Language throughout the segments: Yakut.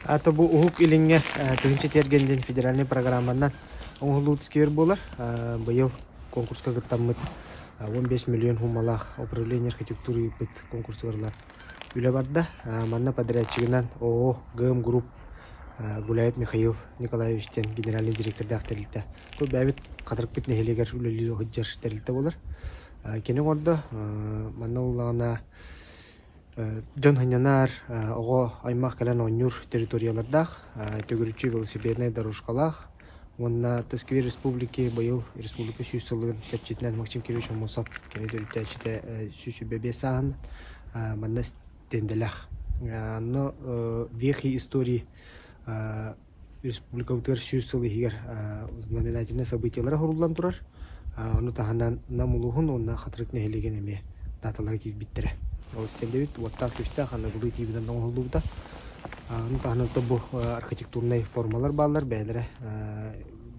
Ата бу Уһук Илиҥҥэ тыһыынча тиэргэн диэн федеральнай программанан оҥоһуллуу тискиэр буолар. Быйыл конкурска кыттаммыт 15 миллион суумалаах управление архитектуры ыыппыт конкурсугар ылан үлэ барда. Манна подрядчигынан ООО ГМ Групп Гуляев Михаил Николаевич диэн генеральный директордаах тэрилтэ. Бу бэйэбит Хатырыкпыт нэһилиэгэр үлэлии сылдьар тэрилтэ буолар. Кини оҥордо. Манна ыллаҕына дьон анньынаар, оҕо аймах кэлэн оонньуур территориялардаах, төгүрүччү велосипеднай дорожкалаах уонна Тускве республики быйыл республика сүүс сылын кэрчитинэн Максим Кирович Аммосов кини төрүттээччитэ сүүс сүүрбэ биэс сааһын манна стендэлээх. Ону Вехи истории Республикабытыгар сүүс сыл иһигэр знаменательнай событиелар оһоруллан турар. Ону таһынан Нам улууһун уонна Хатырык нэһилиэгин эмиэ дааталара киирбиттэрэ. Ол истэллэбит, уоттаах-күөстээх аныгылыы ТВ-нан оҥоһуллубута. Ону таһынан оттон бу архитектурнай формалар бааллар, бэйэлэрэ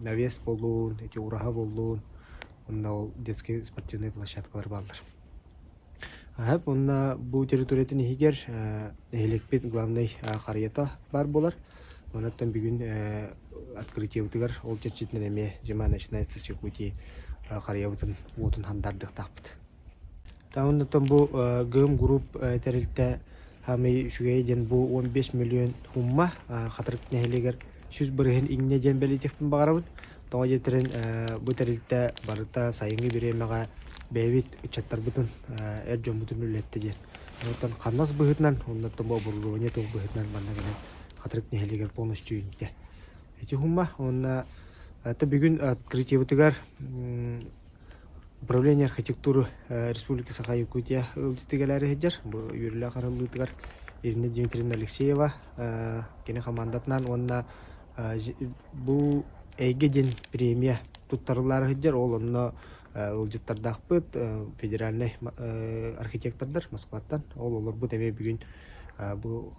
навес буоллун, эти ураһа буоллун, уонна ол детскэй спортивнай площадкалар бааллар. Аһык уонна бу территориятын иһигэр нэһилиэкпит главнай харыйата баар буолар. Оттон бүгүн открытиебытыгар ол чэрчитинэн эмиэ дьима начинается Чекутии харыйабытын уотун хандардыктаахпыт. Та оннуттан бу ГМ Group тэрилтэ Хамый үчүгэй диэн бу он бес миллион хумма Хатырык нэһилиэгэр сүүс барыһын инне диэн бэлитехпин баҕарабыт. Тоҕо диэтэрин бу тэрилтэ барыта сайыҥҥы бириэмэҕэ бэйэбит ыччаттарбытын эр дьоммутун үллэттэ диэн. Оттон хамнас быһыытынан уоннаттан бу оборудование туох быһыытынан манна кэлэн Хатырык нэһилиэгэр полностью иннитэ. Ити уһума уонна то бүгүн открытиебытыгар Управление архитектуры Республика Саха Якутия ыалдьытыг элээри сылдьар бу үөрүүлээх арыллыытыгар Ирина Дмитриевна Алексеева кини хамаандатынан уонна бу эйгэ диэн премия туттарыллаары сылдьар ол онно ыалдьыттардаахпыт федеральнай архитектордар Москваттан ол олорбут эмиэ бүгүн бу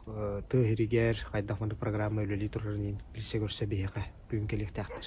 тыа иһиригэр хайдах маннык программа үлэлии турарын билсэ көрсө биһиэхэ бүгүн кэлиэхтээхтэр